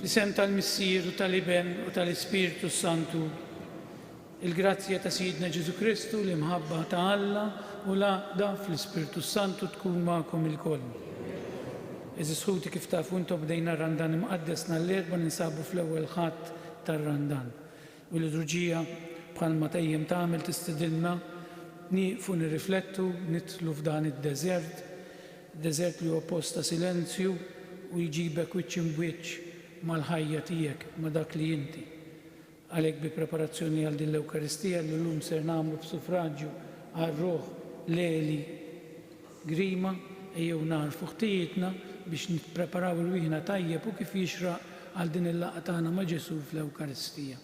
Fl-isem tal-Missier u tal-Iben u tal-Ispirtu s-Santu, il-grazzja ta' Sidna Ġesu Kristu, l-imħabba ta' Alla u l-għaqda fl-Ispirtu s-Santu tkun magħkom ilkoll. Eżis ħuti kif tafu intom bdejna r-Randan Imqaddes nhar l-Erbgħa ninsabu fl-ewwel Ħadd tar-Randan. U l-liturġija, bħalma dejjem tagħmel, tistidinna nieqfu nirriflettu, nidħlu f'dan id-deżert, deżert li huwa post ta' silenzju u jġibek wiċċ imb'wiċċ mal-ħajja tiegħek, ma' dak li inti. Għalhekk bi preparazzjoni għal din l-Ewkaristija li llum ser nagħmlu f'sufraġju għar-Ruħ l-Għeli, Grima, Ejjew nagħrfu ħtijietna biex nippreparaw irwieħna tajjeb u kif jixraq għal din il-laqgħa tagħna ma' Ġesù fl-Ewkaristija.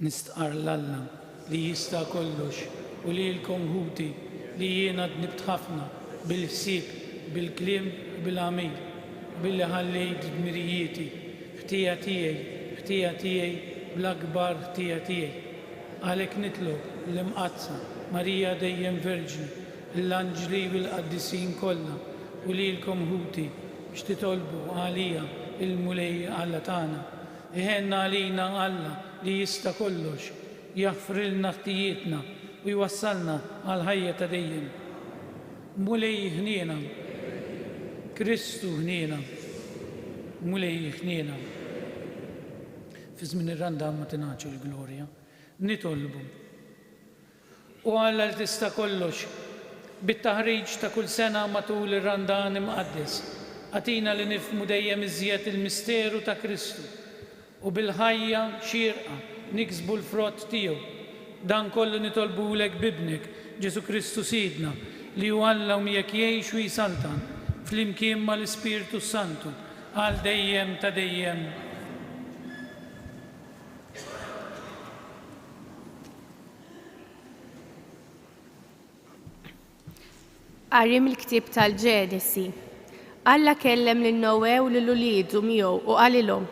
Nistqarr 'l Alla. li jista' kollox u lilkom ħuti li jiena dnibt ħafna bil-ħsieb, bil-kliem u bil-għamil, billi ħallejt dmirijieti, ħtija tiegħi, ħtija tiegħi bla kbar ħtija tiegħi. Għalhekk nitlob l-Imqaddsa Marija Dejjem Verġni, lill-anġli u l-qaddisin kollha u lilkom ħuti biex titolbu għalija lill-Mulej Alla tagħna, Iħenn għalina Alla li jista' kollox, jaħfrilna ħtijietna u jwassalna għall-ħajja ta' dejjem. Mulej ħniena. Kristu ħniena. Mulej ħniena. Fi żmien ir-Randan Matinaċi l-Glorja, nitolbu. U għal għaltis ta' kollox, bit-taħriġ ta' kull sena matul ir-Randan Imqaddes, agħtina li nifhmu dejjem iżjed il-misteru ta' Kristu u bil-ħajja xierqa niksbu l-frott tiegħu. Dan kollu nitolbulek b'Ibnek, Ġesù Kristu Sidna, li hu Alla u miegħek jgħix u jsaltan, flimkien mal-Ispirtu s-Santu, għal dejjem ta' dejjem. Qari mill-ktieb tal-Ġenesi. Alla kellem lil Noè u lil uliedu miegħu u qalilhom,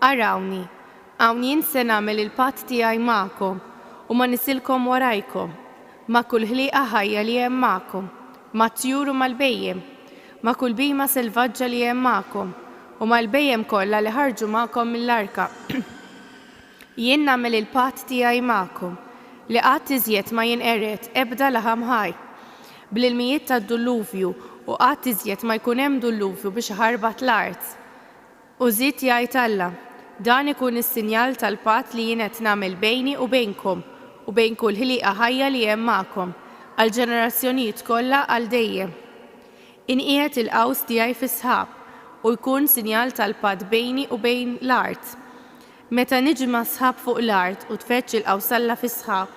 Arawni, hawn jien se nagħmel il-patt tiegħi magħkom u ma' nisilkom warajkom, ma' kull ħlieqa ħajja li hemm magħkom, mat-tjur u mal-bhejjem, ma' kull bhima selvaġġa li hemm magħkom, u mal-bhejjem kollha li ħarġu magħkom mill-arka. Jien nagħmel il-patt tiegħi magħkom, li qatt iżjed ma jinqered ebda laħam ħaj, bl-ilmijiet tad-dulluvju, u qatt iżjed ma jkun hemm dulluvju biex iħarbat l-art. U żied jgħid Alla, Dan ikun is-sinjal tal-patt li jien qed nagħmel bejni u bejnkom, u bejn kull ħlieqa ħajja li hemm magħkom, għall-ġenerazzjonijiet kollha għal dejjem. Inqiegħed il-qaws tiegħi fis-sħab, u jkun sinjal tal-patt bejni u bejn l-art. Meta niġma' s-sħab fuq l-art u tfeġġ il-qawsalla fis-sħab,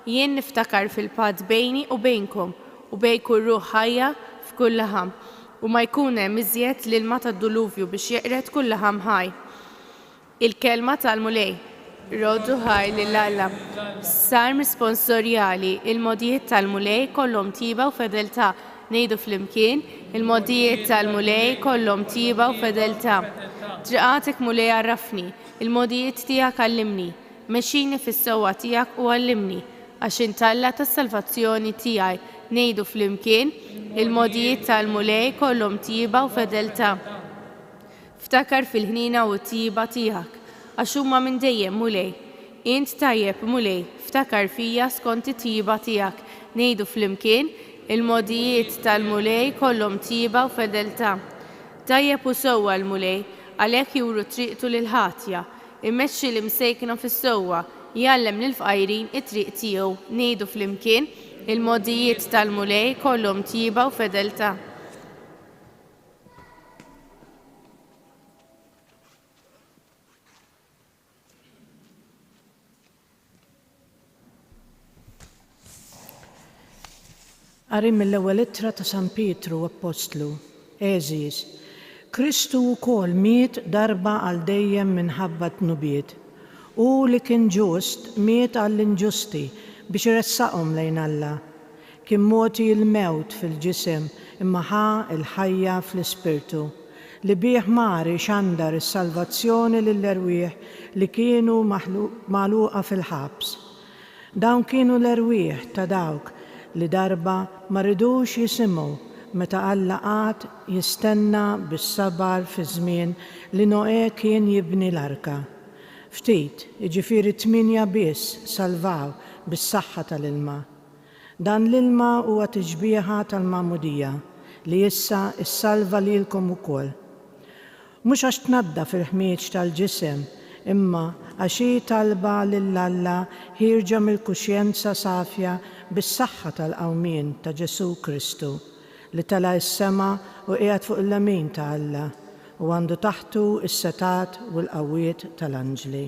jien niftakar fil-patt bejni u bejnkom u bejn kull ruħ ħajja f'kull laħam, u ma jkun hemm iżjed l-ilma tad-duluvju biex jeqred kull laħam ħaj. Il-kelma tal-Mulej. Roddu ħaj lil Alla. Salm Sponsorjali, Il-mogħdijiet tal-Mulej kollhom tjieba u fedeltà, Ngħidu flimkien, Il-mogħdijiet tal-Mulej kollhom tjieba u fedeltà. Triqatek, Mulej, għarrafni, il-mogħdijiet tiegħek għallimni. Mexxini fis-sewwa tiegħek u għallimni, għax int Alla tas-salvazzjoni tiegħi. Ngħidu flimkien, Il-mogħdijiet tal-Mulej kollhom tjieba u fedeltà. Ftakar fil-ħniena u t-tjieba tiegħek, għax huma minn dejjem, Mulej. Int tajjeb, Mulej, ftakar fija skont it-tjieba tiegħek. Ngħidu flimkien, Il-mogħdijiet tal-Mulej kollhom tjieba u fedeltà. Tajjeb u sewwa l-Mulej, għalhekk juru triqtu lill-ħatja. Imexxi l-imsejkna fis-sewwa, jgħallem lill-fqajrin it-triq tiegħu. Ngħidu flimkien, Il-mogħdijiet tal-Mulej kollhom tjieba u fedeltà. Qari mill-ewwel ittra ta' San Pietru Appostlu, Għeżież, Kristu wkoll miet darba għal dejjem minħabba t-dnubiet. Hu li kien ġust miet għall-inġusti biex iressaqhom lejn Alla. Kien mogħti il-mewt fil-ġisem imma ħa l-ħajja fl-ispirtu, li bih mar ixandar is-salvazzjoni lill-erwieħ li kienu magħluqa fil-ħabs. Dawn kienu l-erwieħ ta' dawk li darba ma ridux jisimgħu meta Alla qagħad jistenna bis-sabar fiż-żmien li Noè kien jibni l-arka. Ftit, jiġifieri tmienja biss salvaw bis-saħħa tal-ilma. Dan l-ilma huwa tixbieha tal-Magħmudija li issa ssalva lilkom ukoll. Mhux għax tnaddaf il-ħmieġ tal-ġisem, imma għax hi talba lil Alla ħierġa mill-kuxjenza safja bis-saħħa tal-qawmien ta' Ġesù Kristu, li tela' s-sema u qiegħed fuq il-lemin ta' Alla, u għandu taħtu s-setgħat u l-qawwiet tal-anġli.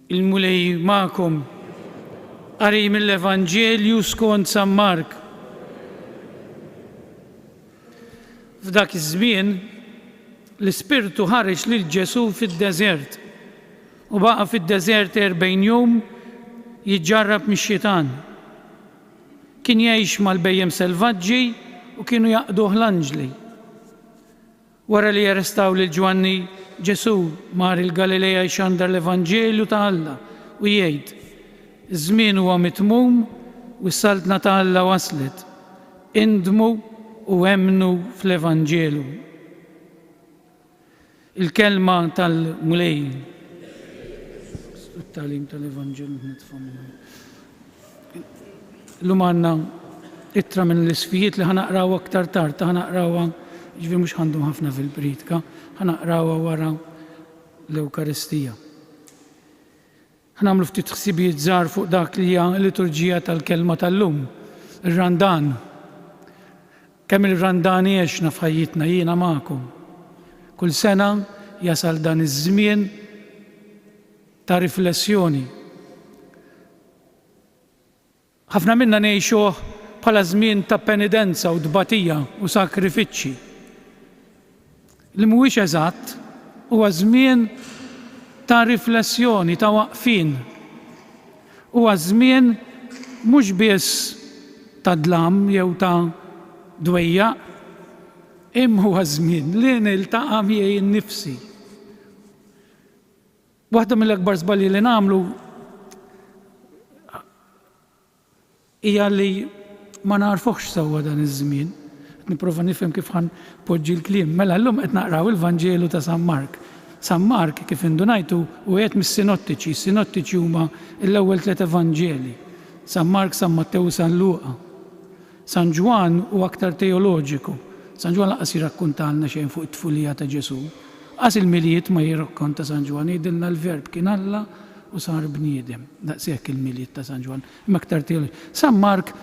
Il-Mulej magħkom. Qari mill-Evanġelju skont San Mark. F'dak iż-żmien, l-Ispirtu ħareġ lil Ġesù fid-deżert, u baqa' fid-deżert erbgħin jum jiġġarrab mix-xitan. Kien jgħix mal-bhejjem selvaġġi u kienu jaqduh l-anġli. Wara li arrestaw lil Ġwanni, Ġesù mar il-Galilea jxandar l-evanġelju ta' Alla u jgħid, Iż-żmien huwa mitmum u s-saltna ta' Alla waslet. Indmu u emmnu fl-evanġelu. Il-kelma tal-Mulej. Llum għandna ittra minn l-Isfijiet li ħa naqrawha aktar tard, ħa naqrawha jiġifieri mhux ħa ndum ħafna fil-priedka, ħa naqrawha wara l-Ewkaristija. Ħa nagħmlu ftit ħsibijiet żgħar fuq dak li hija l-liturġija tal-Kelma tal-lum, ir-Randan. Kemm il-Randan għexna f'ħajjitna jiena magħkom. Kull sena jasal dan iż-żmien, ta' riflessjoni. Ħafna minna ngħixuh bħala żmien ta' penidenza u tbatija u sakrifiċċji. Li mhuwiex eżatt huwa żmien ta' riflessjoni, ta' waqfien. Huwa żmien mhux biss ta' dlam jew ta' dwejjaq, imma huwa żmien li niltaqa' miegħi nnifsi. Waħda mill-akbar żbalji li nagħmlu hija li ma nagħrfuhx sewwa dan iż-żmien. Qed nipprova nifhem kif ħa npoġġi l-kliem. Mela llum qed naqraw il-Vanġelu ta' San Mark. San Mark, kif indunajtu, hu wieħed mis-Sinottiċi. Is-Sinottiċi huma l-ewwel tliet Evanġeli, San Mark, San Mattew u San Luqa. San Ġwann hu aktar teoloġiku. San Ġwann lanqas jirrakkuntalna xejn fuq it-tfulija ta' Ġesù. Qas il-Milied ma jirrakkonta San Ġwann, jgħidilna l-Verb kien Alla u sar bniedem. Daqshekk il-Milied ta' San Ġwann, imma aktar teoloġiku. San Mark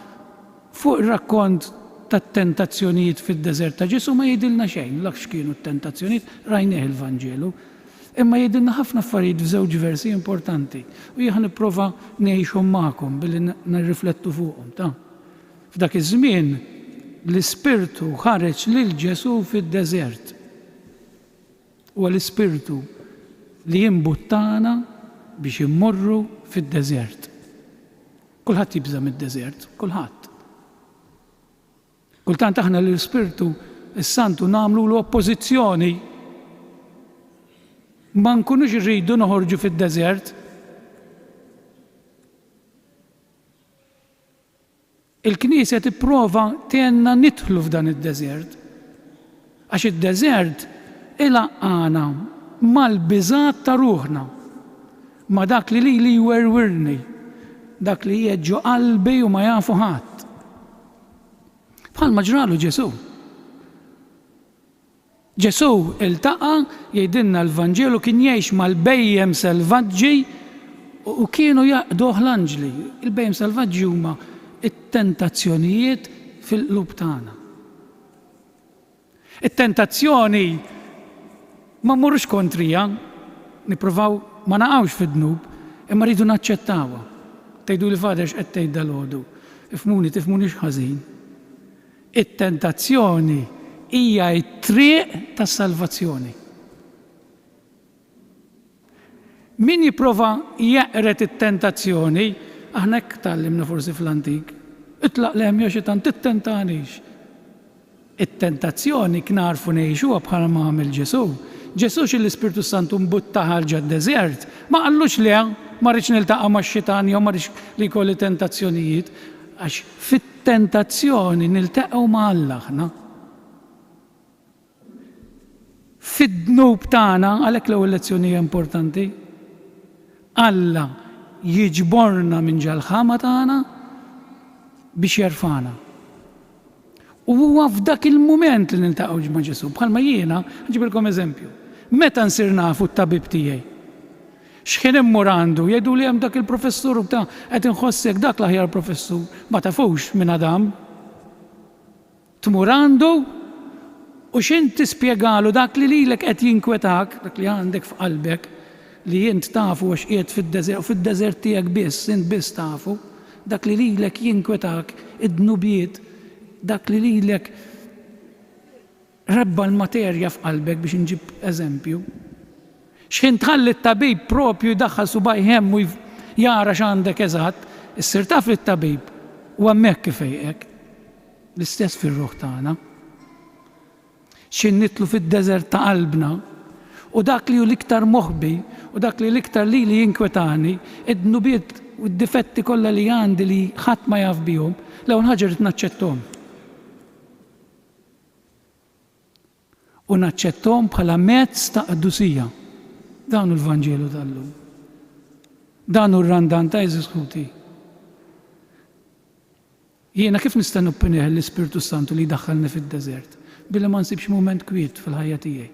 fuq ir-rakkont tat-tentazzjonijiet fid-deżert ta' Ġesù ma jgħidilna xejn, la x'kienu t-tentazzjonijiet, rajnieh il-Vanġelu. Imma jgħidilna ħafna affarijiet f'żewġ versi importanti u jien ħa nipprova ngħixhom magħkom billi nirriflettu fuqhom. Ta. F'dak iż-żmien, l-Ispirtu ħareġ lil Ġesù fid-deżert. Huwa l-Ispirtu li jimbuttana biex immorru fid-deżert. Kulħadd jibża' mid-deżert, kulħadd. Kultant aħna lill-Ispirtu s-Santu nagħmlulu oppożizzjoni. Ma nkunux irridu noħorġu fid-deżert. Il-Knisja tipprova tgħinna nidħlu f'dan id-deżert, għax id-deżert ilaqqagħna mal-biżgħat ta' ruħna, ma' dak li lili jwerwirni, dak li qiegħed ġo qalbi u ma jafu ħadd. Bħalma ġralu Ġesù. Ġesù ltaqa', jgħidilna l-Vanġelu, kien jgħix mal-bhejjem selvaġġi u kienu jaqduh l-anġli. Il-bhejjem selvaġġi huma t-tentazzjonijiet fil-qlub tagħna. It-tentazzjoni ma mmorrux kontriha, nippruvaw ma naqgħux fid-dnub, imma rridu naċċettawha. Tgħiduli Father x'qed tgħid dalgħodu? Ifhmuni, tifhmunix ħażin. It-tentazzjoni hija t-triq tas-salvazzjoni. Min jipprova jeqred it-tentazzjoni, aħna hekk tgħallimna forsi fl-antik, itlaq lehem jew xitan tittentanix. It-tentazzjoni knagħrfu ngħixuha bħal ma għamel Ġesù. Ġesù xi l-Ispirtu Santu mbutta ħa ġad-deżert, ma qallux le ma rridx niltaqa' max-xitan jew ma rridx li jkolli tentazzjonijiet għax Fit-tentazzjoni niltaqgħu ma' Alla aħna. Fid-dnub tagħna, għalhekk l-ewwel lezzjoni hija importanti, Alla jiġborna minn ġal-ħama tagħna biex jerfagħna. U huwa f'dak il-mument li niltaqgħu ma' Ġesù. Bħalma jiena, ħa nġibilkom eżempju, meta nsir nafu t-tabib tiegħi? X'ħin immur għandu, jgħiduli hemm dak il-professur u bda, qed inħossek dak l-aħjar professur. Ma tafux min għad hamm. Tmur għandu u x'int tispjegalu dak li lilek qed jinkwetak, dak li għandek f'qalbek, li int tafu għax qiegħed fid-deżert u fid-deżert tiegħek biss, int biss tafu, dak li lilek jinkwetak, id-dnubiet, dak li lilek Rebba l-materja f'qalbek biex inġib eżempju. Xħin tħalli t-tabib proprju jdaħħal subgħajh hemm u jara x'għandek eżatt, issir taf li t-tabib hu hemmhekk ifejqek. L-istess fir-ruħ tagħna. Xħin nidħlu fid-deżert ta' qalbna, u dak li hu l-iktar moħbi u dak li l-iktar lili jinkwetani, id-dnubiet u d-difetti kollha li għandi li ħadd ma jaf bihom, l-ewwel ħaġa rrid naċċetthom. u naċċetthom bħala mezz ta' qdusija. Dan hu l-Vanġelu tal-lum. Dan hu r-Randan ta' għeżież ħuti. Jiena kif nista' noppinih l-Ispirtu s-Santu li jdaħħalni fid-deżert billi ma nsibx mument kwiet fil-ħajja tiegħi?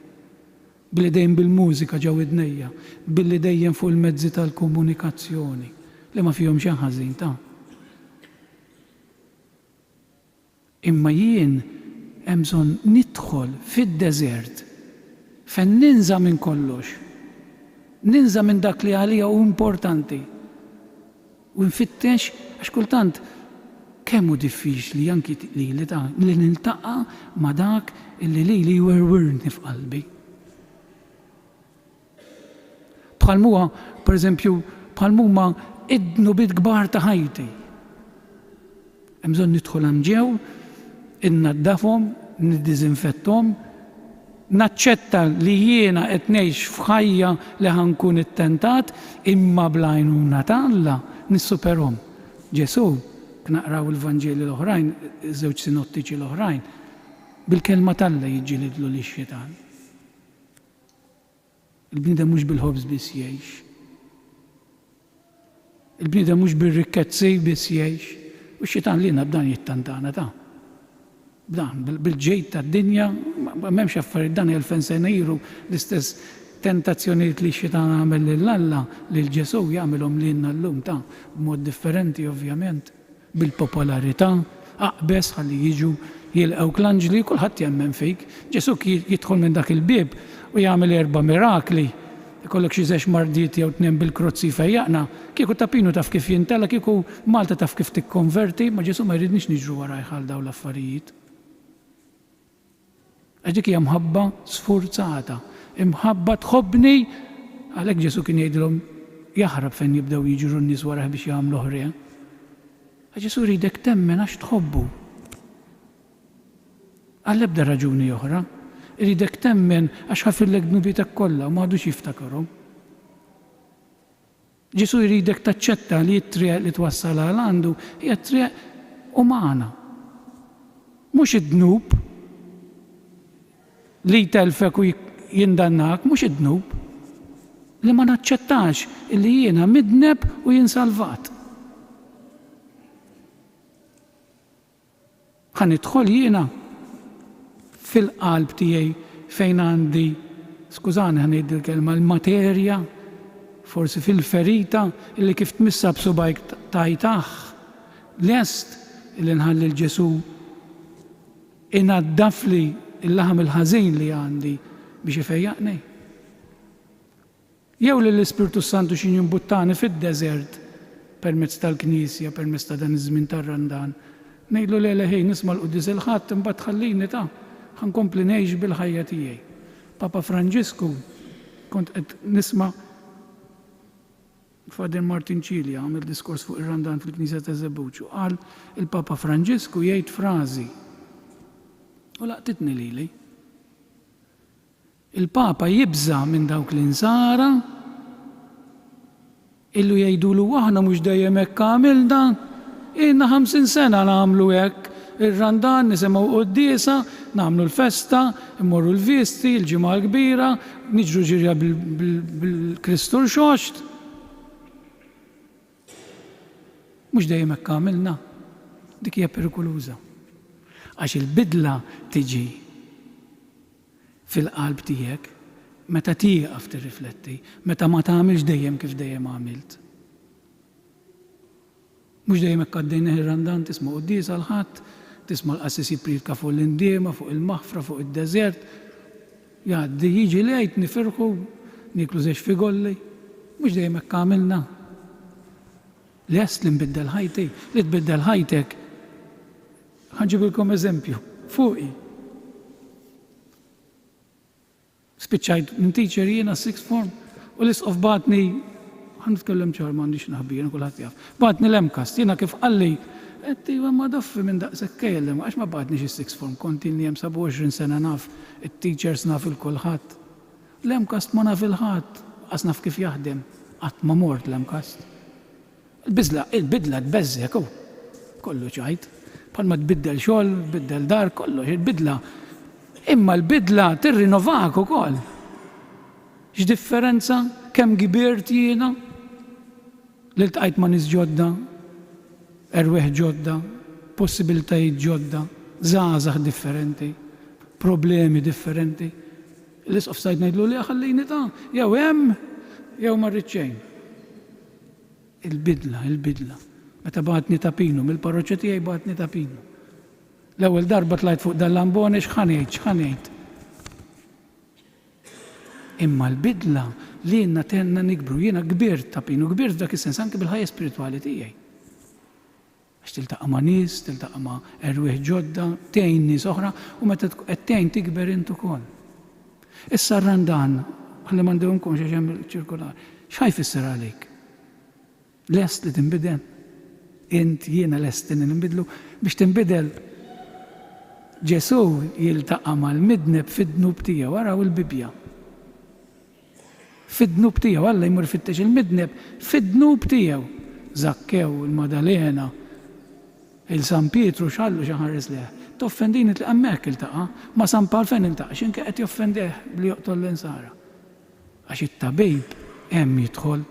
Billi dejjem bil-mużika ġo widnejja, billi dejjem fuq il-mezzi tal-komunikazzjoni, li ma fihom xejn ħażin, ta? Imma jien hemm bżonn nidħol fid-deżert fejn ninża' minn kollox, ninża' minn dak li għalija hu importanti u nfittex għax kultant kemm hu diffiċli anki lili li niltaqa' ma' dak li lili jwerwirni f'qalbi. bħal m'huwa, per eżempju, bħal m'huma id-dnubiet kbar ta' ħajti. Hemm bżonn nidħol għand Ġew, innaddafhom, niddiżinfetthom, naċċetta li jiena qed ngħix f'ħajja li ħa nkun ittentat, imma bl-għajnuna ta' Alla nissuperhom. Ġesù, naqraw il-Vanġeli l-oħrajn, iż-żewġ sinottiċi l-oħrajn, bil-Kelma t'Alla jiġġilidlu lix-xitan. Il-bniedem mhux bil-ħobż biss jgħix. Il-bniedem mhux bir-rikkezzi biss jgħix. U x-xitan lilna b'dan jittantana ta'. B'dan, bil-ġid tad-dinja, m'hemmx affarijiet dan elfen sena ilu l-istess tentazzjonijiet li x-xitan għamel lil Alla, lil Ġesù, jagħmilhom lilna llum ta', b'mod differenti ovvjament. Bil-popolarità, aqbeż ħalli jiġu jilqgħuk l-anġli, kulħadd jemmen fik. Ġesù kien jidħol minn dak il-bieb u jagħmel erba' mirakli. Ikollok xi żex mardiet jew tnejn bil-krozz jfejjaqna? Kieku ta' Pinu taf kif jintela, kieku Malta taf kif tikkonverti, ma' Ġesù ma jridniex niġru warajh għal dawn l-affarijiet. Għax dik hija mħabba sfurzata. Imħabba tħobbni Għalhekk Ġesù kien jgħidilhom, Jaħrab fejn jibdew jiġru n-nies warajh biex jagħmluh re. Għax Ġesù jridek temmen għax tħobbu. Għall-ebda raġuni oħra. Iridek temmen għax ħafirlek dnubietek kollha u ma għadux jiftakarhom. Ġesù jridek taċċetta li t-triq li twassal għal għandu hija t-triq umana. Mhux id-dnub li jtellfek u jindannak, mhux id-dnub. Li ma naċċettax illi jiena midneb u jien salvat. Ħa nidħol jiena fil-qalb tiegħi fejn għandi, skużani ħa ngħid dil-kelma, l-materja, forsi fil-ferita illi kif tmissha b'subgħajk tgħid aħ! Lest illi nħalli 'l Ġesù inaddafli l-laħam il-ħażin li għandi biex ifejjaqni? Jew lill-Ispirtu s-Santu x'in jimbuttani fid-deżert permezz tal-Knisja, permezz ta' dan iż-żmien tar-Randan. Ngħidlu le le ħin nisma' l-Quddies il-Ħadd imbagħad tħallini ta' ħa nkompli ngħix bil-ħajja tiegħi. Papa Franġisku kont qed nisma' Father Martin Cilia għamel diskors fuq ir-Randan fil-Knisja ta' Żebbuġ u qal il-Papa Franġisku jgħid frażi u laqtitni lili. Il-Papa jibża' minn dawk l-insara illu jgħidulu aħna mhux dejjem hekk għamilna, ilna ħamsin sena nagħmlu hekk, ir-Randan nisimgħu quddiesa, nagħmlu l-festa, immorru l-visti, il-Ġimgħa l-Kbira, niġru ġirja bil-Kristu Rxoxt. Mhux dejjem hekk għamilna. Dik hija perikoluża. Għax il-bidla tiġi fil-qalb tiegħek, meta tieqaf tirrifletti, meta ma tagħmilx dejjem kif dejjem għamilt. Mhux dejjem hekk għaddej neħi r-Randan, tisma' quddies għall-Ħadd, tisma' l-qassis jippriedka fuq l-indiema, fuq il-maħfra, fuq id-deżert. Jgħaddi, jiġi l-Għid, nifirħu, nieklu żewġ figolli. Mhux dejjem hekk għamilna. Lest li nbiddel ħajti, li tbiddel ħajtek, Ħa nġibilkom eżempju, fuqi. Spiċċajt minn teacher jiena sixth form u l-isqof bagħatni ħa nitkellem ċar m'għandix naħbija, kulħadd jaf. Bagħatni l-MCAST, jiena kif qalli, qed iva ma daffi minn daqshekk kejl għax ma bagħatnix is-sixth form, kont ilni hemm 27 sena naf it-teachers naf il kulħadd. L-MCAST ma naf il-ħadd, lanqas naf kif jaħdem, qatt ma mort l-MCAST. Il-biżla, il-bidla tbeżżgħek, hu kollu ċajt. Bħalma tbiddel xogħol, tbiddel dar, kollox, il-bidla. Imma l-bidla tirrinovak ukoll. X'differenza kemm kibirt jiena li ltqajt ma' nies ġodda, erwieħ ġodda, possibilitajiet ġodda, żgħażagħ differenti, problemi differenti. L-Isqof Said ngħidlu, le ħallini ta', jew hemm jew ma rrid xejn. Il-bidla, il-bidla. Meta bagħatni ta' Pinu, mill-parroċċa tiegħi bagħatni ta' Pinu. L-ewwel darba tlajt fuq dal-lambone x'ħa ngħid, x'ħa ngħid. Imma l-bidla lilna tenna nikbru. Jiena kbirt ta' Pinu, kbirt f'dak is-sens anke bil-ħajja spiritwali tiegħi. Għax tiltaqa' ma' nies, tiltaqa' ma' erwieħ ġodda, tgħin nies oħra, u meta tkun qed tgħin tikber int ukoll. Issa r-Randan, ħalli ma ndewwmkomx għax hemm ċirkolari, x'ħa jfisser għalik? Lest li tinbidel? Int, jiena lesti li ninbidlu? Biex tinbidel, Ġesù jiltaqa' mal-midneb fid-dnub tiegħu, araw il-Bibbja. Fid-dnub tiegħu. Alla jmur ifittex il-midneb fid-dnub tiegħu. Żakkew, il-Maddalena, il-San Pietru x'għallu xi ħares lejh. Toffendini tliq hemmhekk iltaqa' ma' San Pawl fejn iltaqa' x'imkien qed joffendih billi joqtol l-Insara. Għax it-tabib hemm jidħol.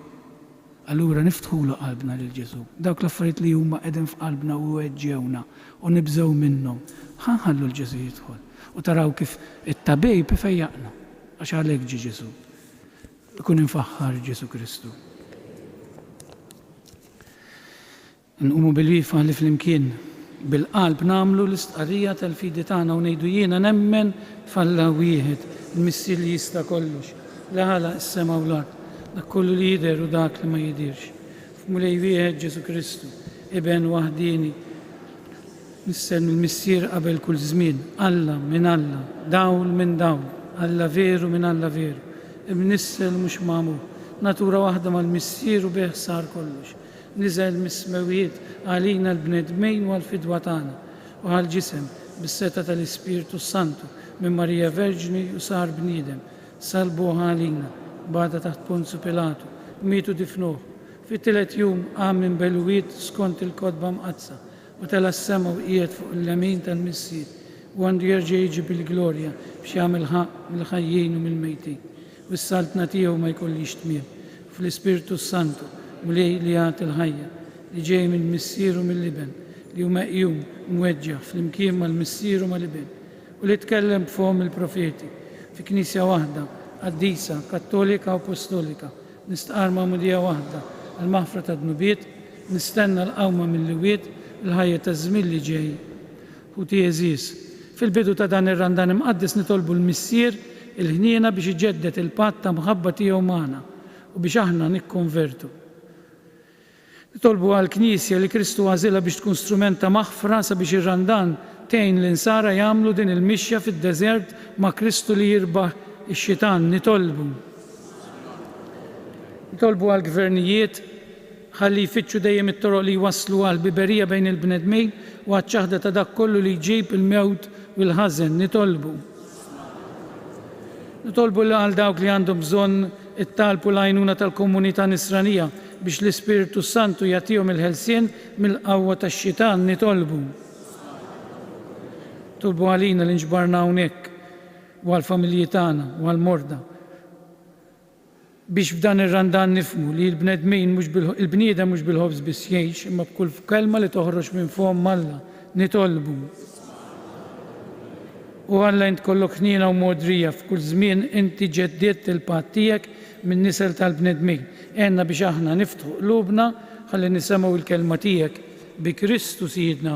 Allura niftħulu qalbna lil Ġesù. Dawk l-affarijiet li huma qegħdin f'qalbna u jweġġgħuna u nibżgħu minnhom, ħa nħallu 'l Ġesù jidħol. U taraw kif it-tabib ifejjaqna, għax għalhekk ġie Ġesù. Ikun imfaħħar Ġesù Kristu. Nqumu bil-wieqfa li flimkien bil-qalb nagħmlu l-istqarrija tal-fidi tagħna u ngħidu, Jiena nemmen f'Alla wieħed, il-Missier li jista' kollox, li ħalaq is-sema u l-art, dak kollu li jidher u dak li ma jidhirx, f'Mulej wieħed Ġesù Kristu, Iben waħdieni missel mill-Missier qabel kull żmien, Alla minn Alla, dawl minn dawl, Alla veru minn Alla veru, imnissel u mhux magħmul, natura waħda mal-Missier u bih sar kollox. Niżel mis-smewwiet għalina l-bnedmin u għall-fidwa tagħna, u ħa l-ġisem, bis-setgħa tal-Ispirtu s-Santu, minn Marija Verġni u sar bniedem, salbuh għalina, bata taħt Ponzu Pilatu, miet u difnuh, fit-tielet jum qam minn belwiet skont il-Kotba Mqaddsa, U tela' s-sema u qiegħed fuq il-lemin tal-Missier, u għandu jerġa' jiġi bil-glorja biex jagħmel ħaqq mill-ħajjin u mill-mejtin, u s-saltna tiegħu ma jkollhiex tmiem, u fl-Ispirtu s-Santu, Mulej li jagħti l-ħajja, li ġej mill-Missier u mill-Iben, li hu meqjum u mweġġaħ flimkien mal-Missier u mal-Iben, u li tkellem b'fomm il-profeti, fi Knisja waħda, qaddisa, kattolika u postolika, Nistqarr magħmudija waħda għall-maħfra tad-dnubiet, nistenna l-qawma mill-wied, il-ħajja taż-żmien li ġej. Ħuti għeżież, fil-bidu ta' dan ir-Randan Imqaddes nitolbu l-Missier il-ħniena biex iġedded il-patt ta' mħabba tiegħu magħna u biex aħna nikkonvertu. Nitolbu għall-Knisja li Kristu għażilha biex tkun strument ta' maħfra sabiex ir-Randan tgħin l-Insara jagħmlu din il-mixja fid-deżert ma' Kristu li jirbaħ ix-xitan. Nitolbu. Nitolbu għall-gvernijiet ħalli jfittxu dejjem it-toroq li jwasslu għall-ħbiberija bejn il-bnedmin u għaċ-ċaħda ta' dak kollu li jġib il-mewt u l-ħażen. Nitolbu. Nitolbu għal dawk li għandhom bżonn it-talb u l-għajnuna tal-komunità Nisranija biex l-Ispirtu s-Santu jagħtihom il-ħelsien mill-qawwa tax-xitan. Nitolbu. Nitolbu għalina li nġbarna hawnhekk u għall-familji tagħna u għall-morda. biex b'dan ir-Randan nifhmu li l-bnedmin mhux bil, il-bniedem mhux bil-ħobż biss jgħix, imma b'kull kelma li toħroġ minn fomm Alla. Nitolbu. O Alla int kollok ħniena u mogħdrija, f'kull żmien inti ġeddidt il-patt tiegħek min-nisel tal-bnedmin. Għenna biex aħna niftħu qlubna ħalli nisemgħu l-kelma tiegħek, bi Kristu Sidna.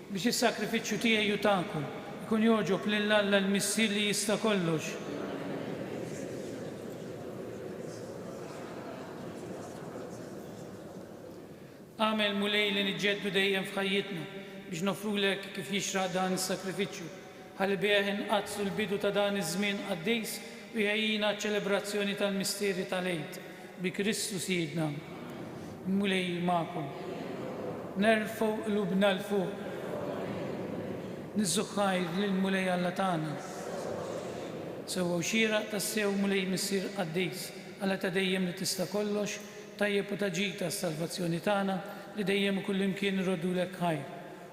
Biex is-sagrifiċċju tiegħi u tagħkom ikun jogħġob lil Alla l-Missier li jista' kollox. Agħmel, Mulej, li niġġeddu dejjem f'ħajjitna biex noffrulek kif jixraq dan is-sagrifiċċju. Ħalibih inqaddsu l-bidu ta' dan iż-żmien qaddis u jħejjina għaċ-ċelebrazzjoni tal-misteri tal-Għid, bi Kristu Sidna. Il-Mulej magħkom. Nerfgħu qlubna 'l fuq. Niżżu ħajr lill-Mulej Alla tagħna. Sewwa u xieraq tassew Mulej Missier qaddis, Alla ta' dejjem li tista' kollox, tajjeb u ta' ġid għas-salvazzjoni tagħna, li dejjem u kullimkien irroddulek ħajr.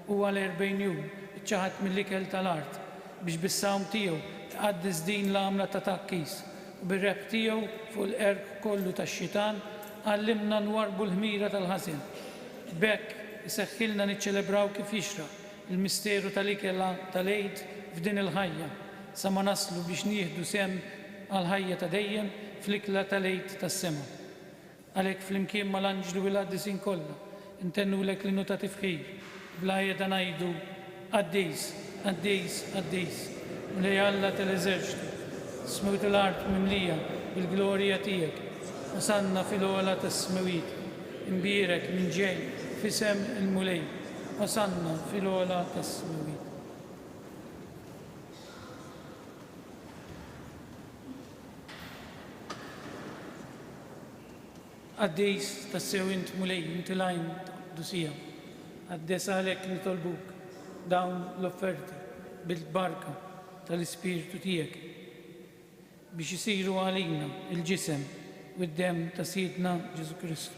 u għal erbgħin jum iċċaħad mill-ikel ta' l-art, biex bis-sawm tiegħu iqaddes din l-għamla ta' tgħakkis, u bir-rebħ tiegħu fuq il-qerq kollu tax-xitan għallimna nwarrbu l-ħmira tal-ħażen. B'hekk, iseħħilna niċċelebraw kif jixraq il-misteru ta' l-ikel ta' l-Għid f'din il-ħajja, sa ma naslu biex nieħdu sehem għall-ħajja ta' dejjem fl-ikla ta' l-Għid tas-sema. Għalhekk flimkien mal-anġli u l-qaddisin kollha ntennulek l-innu ta' tifħir u bla qiegħda ngħidu, Qaddis, qaddis, qaddis, Mulej Alla tal-eżerċti, is-smewit u l-art mimlija bil-glorja tiegħek, Osanna fil-ogħla tas-smewit, imbierek min ġej f'isem il-Mulej, Osanna fil-ogħla tas-smewit. Qaddis tassew int Mulej, int il-għajn ta' qdusija. Qaddes għalhekk nitolbuk dawn l-offerti bil-barka tal-Ispirtu tiegħek biex isiru għalina l-ġisem u d-demm ta' Sidna Ġesù Kristu.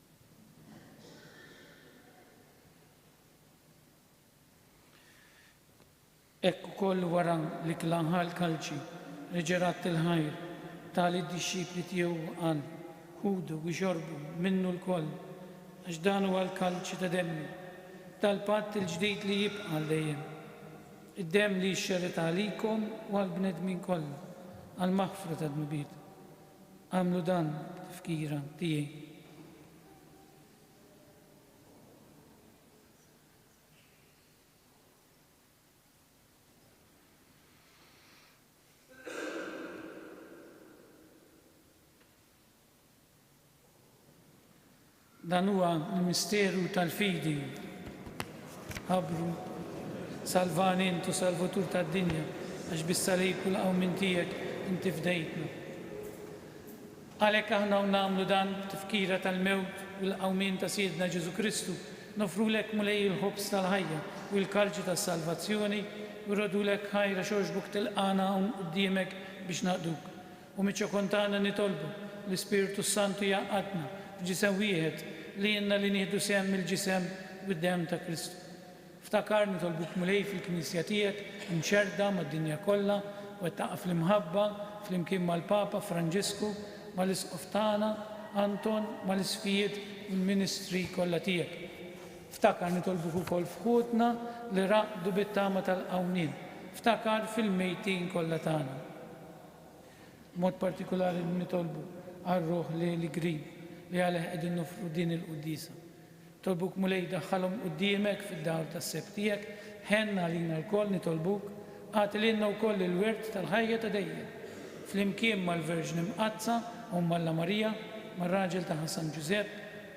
Hekk ukoll wara li kla ħa l-kalċi, reġa' radd il-ħajr, ta lid-dixxipli tiegħu u qal, Ħudu u xorbu minnu lkoll, għax dan huwa l-kalċi ta' demmi, tal-patt il-ġdid li jibqa' għal dejjem, id-demm li jixxerred għalikom u għall-bnedmin kollha għall-maħfra tad-dnubiet. Għamlu dan b'tifkira tiegħi. Dan huwa l-misteru tal-fidi. Ħabbru, Salvani int, o Salvatur tad-dinja, għax bis-salib u l-qawmien tiegħek inti fdejtna. Għalhekk aħna u nagħmlu dan b'tifkira tal-mewt u l-qawmien ta' Sidna Ġesù Kristu, noffrulek, Mulej, il-ħobż tal-ħajja u l-kalċi tas-salvazzjoni, u rrodulek ħajr għax għoxbok tilqagħna hawn quddiemek biex naqduk. U miċ-ċokon tagħna nitolbu l-Ispirtu s-Santu jgħaqqadna f'ġisem wieħed, lilna li nieħdu sehem mill-ġisem u d-demm ta' Kristu. Ftakar, nitolbuk Mulej fil-Knisja tiegħek imxerrda mad-dinja kollha, wettaqha fl-imħabba, flimkien mal-Papa Franġisku, mal-Isqof tagħna Anton, mal-Isqfijiet u l-ministri kollha tiegħek. Ftakar, nitolbuk ukoll f'ħutna li raqdu bit-tama tal-qawmien. Ftakar fil-mejtin kollha tagħna. B'mod partikulari nitolbu għar-ruħ li l-Grigg li għalih qegħdin noffru din il-quddiesa. Nitolbuk Mulej daħħalhom quddiemek fid-dawl tas-seb tiegħek, ħenn għalina lkoll nitolbuk, agħti lilna wkoll il-wirt tal-ħajja ta' dejjem, flimkien mal-Verġni Mqaddsa Omm Alla Marija, mar-raġel tagħha San Ġużepp,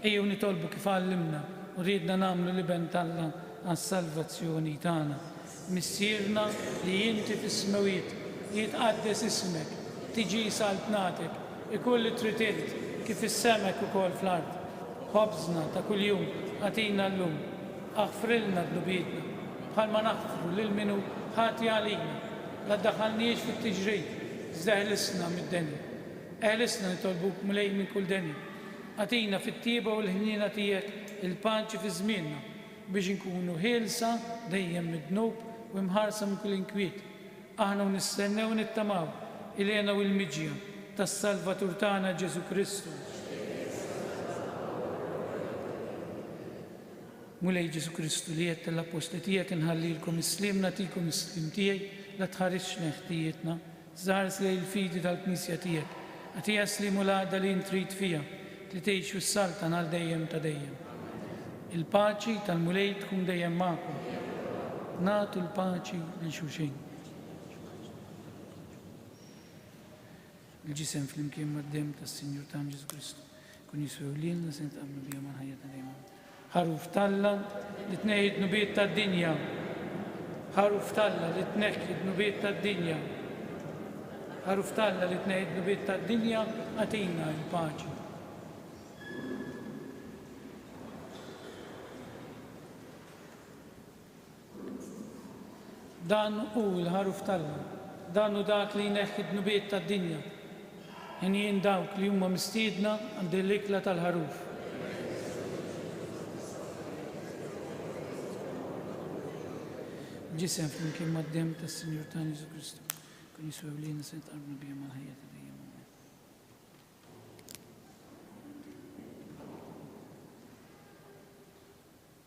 Ejjew nitolbu kif għallimna u riedna nagħmlu l-Iben t'Alla għas-salvazzjoni tagħna. Missierna li inti fis-smewjiet, jitqaddes ismek, tiġi saltnatek, ikun li trid int, kif fis-sema hekk ukoll fl-art. Ħobżna ta' kuljum agħtina llum. Aħfrilna dnubietna, bħalma naħfru lil min hu ħati għalina. La ddaħħalniex fit-tiġrid, iżda ħlisna mid-denja. Eħlisna nitolbuk mlejn minn kull deni. Agħtina fit-tjieba u l-ħniena tiegħek il-paċi fi żmienna, biex inkunu ħielsa dejjem mid-dnub u imħarsa minn kull inkwiet. Aħna u nistennew u nittamaw il-hena u l-miġja tas-Salvatur tagħna Ġesù Kristu. Mulej Ġesù Kristu, li għedt lill-Appostli tiegħek inħallilkom is-sliem nagħtikom is-sliem tiegħi, la tħarisx lejn ħtijietna, Żaħħares lejn il-fidi tal-Knisja tiegħek. Agħtiha s-sliem u l-għaqda li int trid fiha, li tgħix u ssaltan għal dejjem ta' dejjem. Il-paċi tal-Mulej tkun dejjem magħkom. Nagħtu l-paċi lil xulxin. Il-ġisem flimkien mad-demm tas-Sinjur tagħna Ġesù Kristu kun jiswew lilna se nitqablu bihom għall-ħajja ta' dejjem. Ħaruf t'Alla li tnejji d-dnubiet tad-dinja Ħaruf t'Alla li tneħħi d-dnubiet tad-dinja Ħaruf t'Alla li tneħħi d-dnubiet tad-dinja Agħtina l-paċi. Dan hu l-Ħaruf t'Alla. Dan hu dak li jneħħi d-dnubiet tad-dinja. Għinjin dawk li huma mistiedna għal din l-ikla tal-Ħaruf. Ġisem flimkien mad-demm tas-Sinjur tagħna Ġesù Kristu. Kun Ġesù ewliena se jitqarrbu bih mal-ħajja ta' dejjem.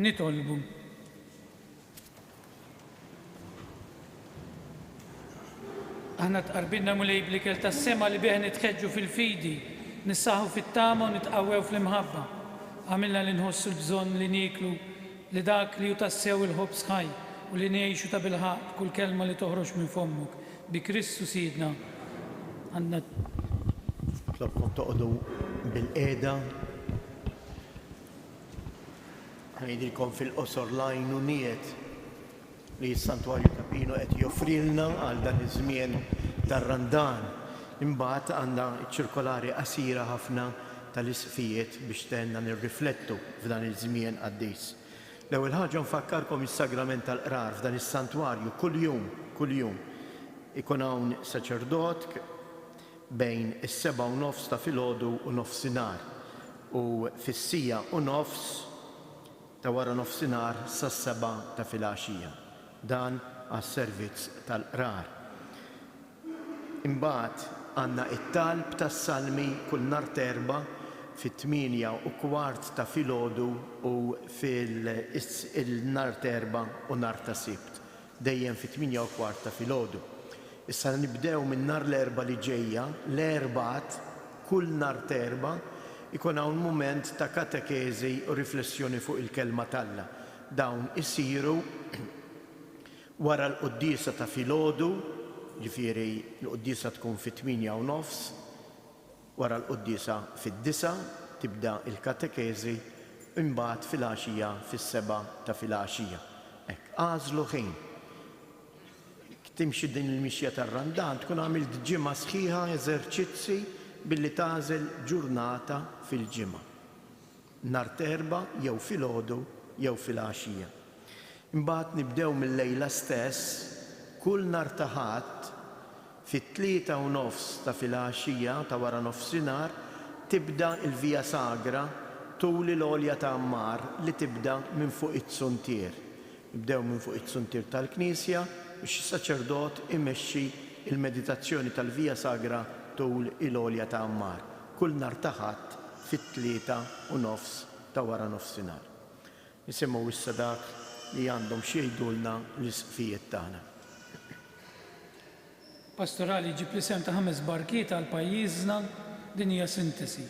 Nitolbu. Aħna tqarbinna Mulej bl-ikel tas-sema li bih nitħeġġu fil-fidi, nissaħħu fit-tama u nitqawwew fl-imħabba. Agħmilna li nħossu l-bżonn li nieklu li dak li hu tassew il-ħobż ħaj u li ngħixu tabilħaqq b'kull kelma li toħroġ minn fommok, Bi Kristu Sidna għandna. Nitlobkom toqogħdu bilqiegħda. Ngħidilkom fil-qosor l-għajnuniet li s-Santwarju ta' Pino qed joffrilna għal dan iż-żmien tar-Randan. Imbagħad għandna ċ-ċirkolari qasira ħafna tal-Isqfijiet biex tgħinna nirriflettu f'dan iż-żmien qaddis. L-ewwel ħaġa nfakkarkom is-sagrament tal-Qrar f'dan is-santwarju kuljum, kuljum, ikun hawn saċerdot bejn is-sebgħa u nofs ta' filgħodu u nofsinhar u fis-siegħa u nofs ta' wara nofsinhar sas-sebgħa ta' filgħaxija. Dan għas-servizz tal-Qrar. Imbagħad għandna t-talb tas-Salmi kull nhar t'Erbgħa fit-tmienja u kwart ta' filgħodu u fil-nhar t'Erbgħa u nhar ta' Sibt dejjem fit-tmienja u kwart ta' filgħodu. Issa nibdew minn nhar l-Erbgħa li ġejja, l-Erbgħat, kull nhar t'Erbgħa jkun hawn mument ta' katekeżi u riflessjoni fuq il-Kelma t'Alla. Dawn isiru. Wara l-quddiesa ta' filgħodu, ġifieri l-quddiesa tkun fit-tmienja u nofs, wara l-quddiesa fid-disgħa tibda l-katekeżi, imbagħad filgħaxija fis-sebgħa ta' filgħaxija. Hekk, agħżlu ħin. Jekk timxi din il-mixja tar-Randan tkun għamilt ġimgħa sħiħa eżerċizzi billi tagħżel ġurnata fil-ġimgħa. Nhar t'Erbgħa jew filgħodu jew filgħaxija. Imbagħad nibdew mil-lejla stess, kull nhar ta' Ħadd, fit-tlieta u nofs ta' filgħaxija, ta' wara nofsinhar, tibda l-Via Sagra tul il-għolja ta' Għammar li tibda minn fuq iz-zuntier. Nibdew minn fuq iz-zuntier tal-knisja u xi saċerdot imexxi l-meditazzjoni tal-Via Sagra tul il-għolja ta' Għammar. kull nhar ta' Ħadd fit-tlieta u nofs ta' waranofsinhar. Nisimgħu issa dak li għandhom x'jgħidulna l-Isqfijiet tagħna. Pastorali jġib l-isem ta' ħames barkiet għal pajjiżna, din hija sintesi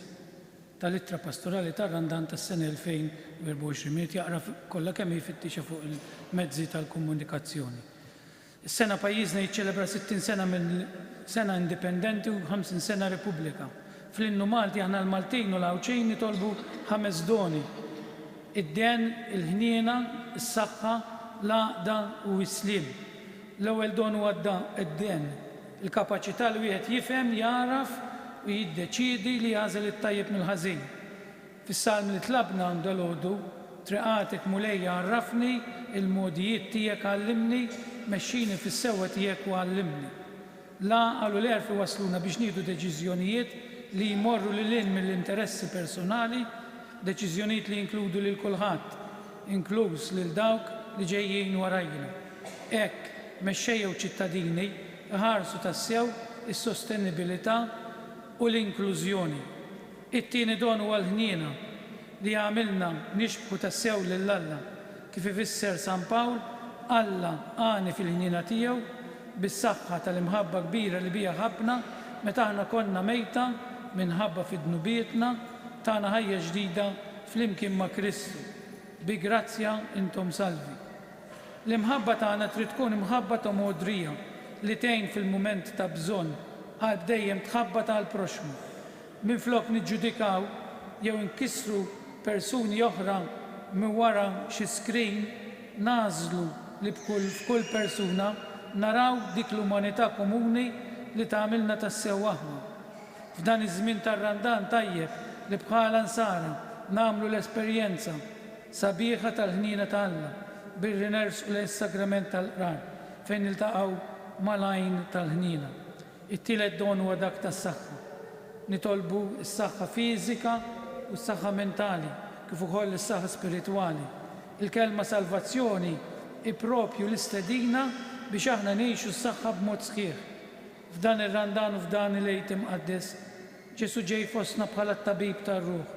tal-Ittra Pastorali tar-Randan tas-sena 2024. Min irid jaqra kollha kemm hi jfittixha fuq il-mezzi tal-komunikazzjoni. Is-sena pajjiżna jiċċelebra 60 sena minn sena indipendenti u 50 sena Repubblika. Fl-Innu Malti aħna l-Maltin u l-Għawdxin nitolbu ħames doni, id-dehn, il-ħniena, is-saħħa, l-għaqda u s-sliem. L-ewwel don huwa d-dehn, il-kapaċità li wieħed jifhem, jagħraf u jiddeċiedi li jagħżel it-tajjeb mill-ħażin. Fis-salm li tlabna dalgħodu, Triqatek, Mulej, għarrafni, il-mogħdijiet tiegħek għallimni, mexxini fis-sewwa tiegħek u għallimni. L-għaqal u l-għerf iwassluna biex nieħdu deċiżjonijiet li jmorru lil hinn mill-interessi personali, deċiżjonijiet li jinkludu lil kulħadd, inkluż lil dawk li ġejjin warajjna. Hekk, mexxejja u ċittadini, iħarsu tassew is-sostenibilità u l-inklużjoni. It-tieni don huwa l-ħniena, li jagħmilna nixbħu tassew lil Alla. Kif ifisser San Pawl, Alla għani fil-ħniena tiegħu, bis-saħħa tal-imħabba kbira li biha ħabbna meta aħna konna mejta minħabba fi dnubietna, tana ħajja ġdida flimkien ma' Kristu. Bi grazzja intom salvi. L-imħabba tagħna trid tkun imħabba ta' mogħdrija, li tgħin fil-mument ta' bżonn, qalb dejjem tħabbat għall-proxxmu. Minflok niġġudikaw jew inkissru persuni oħra minn wara xi screen, nagħżlu li b'kull f'kull persuna naraw dik l-umanità komuni li tagħmilna tassew aħna. F'dan iż-żmien tar-Randan tajjeb li bħala Nsara nagħmlu l-esperjenza sabiħa tal-ħniena ta' Alla billi nersqu lejn is-Sagrament tal-Qrar fejn niltaqgħu mal-Għajn tal-Ħniena. It-tielet don huwa dak tas-saħħa. Nitolbu s-saħħa fiżika u s-saħħa mentali, kif ukoll is-saħħa spiritwali. Il-kelma salvazzjoni hi proprju l-istedina biex aħna ngħixu s-saħħa b'mod sħiħ. F'dan ir-Randan u f'dan il-Għid Imqaddes, Ġesù ġej fostna bħala t-Tabib tar-ruħ.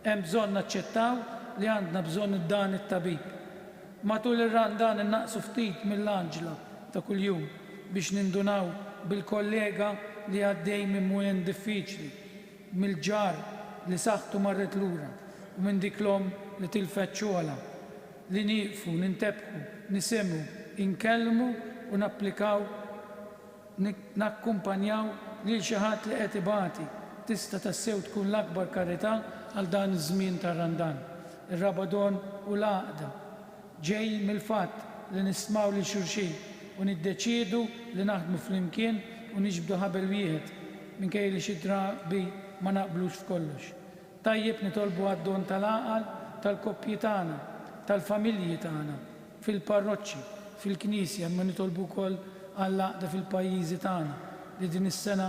Hemm bżonn naċċettaw li għandna bżonn dan it-Tabib. Matul ir-Randan innaqqsu ftit mill-għaġla ta' kuljum biex nindunaw bil-kollega li għaddej minn mument diffiċli, mill-ġar li saħħtu marret lura u minn dik l-omm li tilfet xogħolha, li nieqfu nintebħu, nisimgħu, inkellmu u napplikaw nakkumpanjaw lil xi ħadd li qed ibati tista' tassew tkun l-akbar karità għal dan iż-żmien tar-Randan. Ir-Rabadon u l-għaqda ġej mill-fatt li nistmaw lil xulxin u niddeċiedu li naħdmu flimkien u niġbdu ħabel wieħed, minkejja li xi drabi ma naqblux f'kollox. Tajjeb nitolbu għad-don tal-għaqal tal-koppji tagħna, tal-familji tagħna, fil-parroċċi, fil-Knisja imma nitolbu wkoll għall-għaqda fil-pajjiżi tagħna li din is-sena,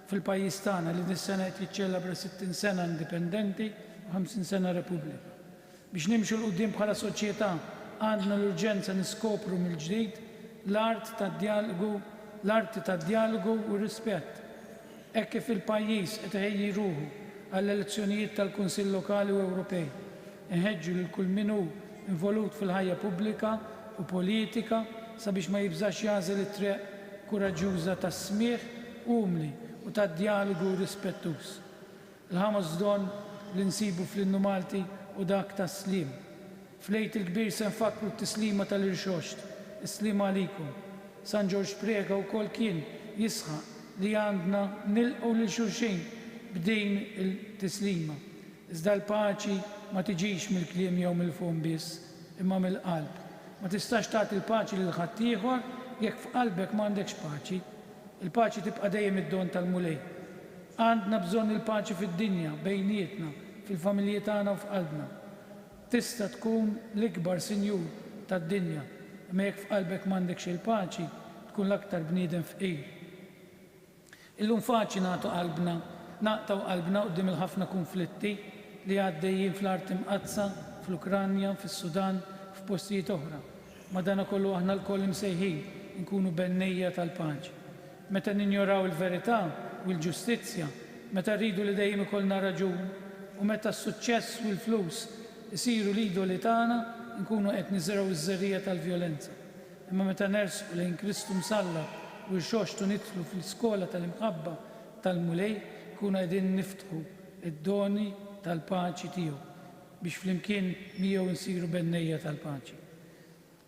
fil-pajjiż tagħna li dis-sena qed jiċċelebra 60 sena indipendenti u 50 sena Repubblika. Biex nimxu 'l quddiem bħala soċjetà għandna l-urġenza niskopru mill-ġdid l-art tad-djalogu, l-arti tad-djalogu u r-rispett. Hekk kif il-pajjiż qed iħejji ruħu għall-elezzjonijiet tal-Kunsill Lokali u Ewropej, Inħeġġu lil kull min hu involut fil-ħajja pubblika u politika sabiex ma jibżax jagħżel it-triq kuraġġuża tas-smigħ umli u tad-djalogu rispettuż. Il-ħamos don li nsibu fl-Innu Malti hu dak tas-sliem. Fl-Għid il-Kbir se nfakkru t-tislima tal-Irxoxt, Is-Sliem Għalikum. San Ġorġ Preca wkoll kien jisħaq li għandna nilqgħu lil xulxin b'din il-tislima. Iżda l-paċi ma tiġix mill-kliem jew mill-fom biss, imma mill-qalb. Ma tistax tagħti l-paċi lil ħaddieħor jekk f'qalbek m'għandekx paċi. Il-paċi tibqa' dejjem id-don tal-Mulej. Għandna bżonn il-paċi fid-dinja, bejnietna, fil-familji tagħna u f'qalbna. Tista' tkun l-ikbar sinjur tad-dinja, imma jekk f'qalbek m'għandekx il-paċi, tkun l-aktar bniedem fqir. Illum faċli nagħtu qalbna, naqtgħu qalbna quddiem il-ħafna kunflitti li għaddejjin fl-Art Imqaddsa, fl-Ukranja, fis-Sudan, u f'postijiet oħra. Madankollu aħna lkoll imsejħin inkunu bennejja tal-paċi. Meta ninjoraw il-verità u l-ġustizzja, meta rridu li dejjem ikollna raġun, u meta s-suċċess u l-flus isiru l-idoli tagħna, inkunu qed niżrgħu ż-żerriegħa tal-vjolenza. Imma meta nersqu lejn Kristu msallab u rxoxt u nidħlu fl-iskola tal-imħabba tal-Mulej, nkunu qegħdin niftħu d-doni tal-paċi tiegħu biex flimkien miegħu nsiru bennejja tal-paċi.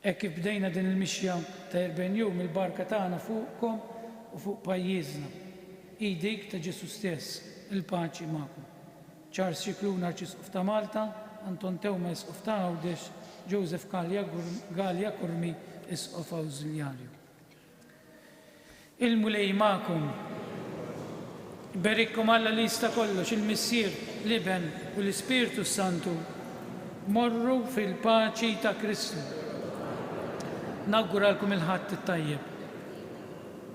Hekk kif bdejna din il-mixja ta' erbgħin jum, il-barka tagħna fuqkom u fuq pajjiżna hi dik ta' Ġesù stess, il-paċi magħkom. Charles Scicluna Arċisqof ta' Malta, Anton Teuma Isqof ta' Għawdex, Joseph Galea Curmi Isqof Awżiljarju. Il-Mulej magħkom. Iberikkom Alla li jista' kollox, il-Missier, l-Iben u l-Ispirtu s-Santu. Morru fil-paċi ta' Kristu. Nawguralkom il-Ħadd it-tajjeb.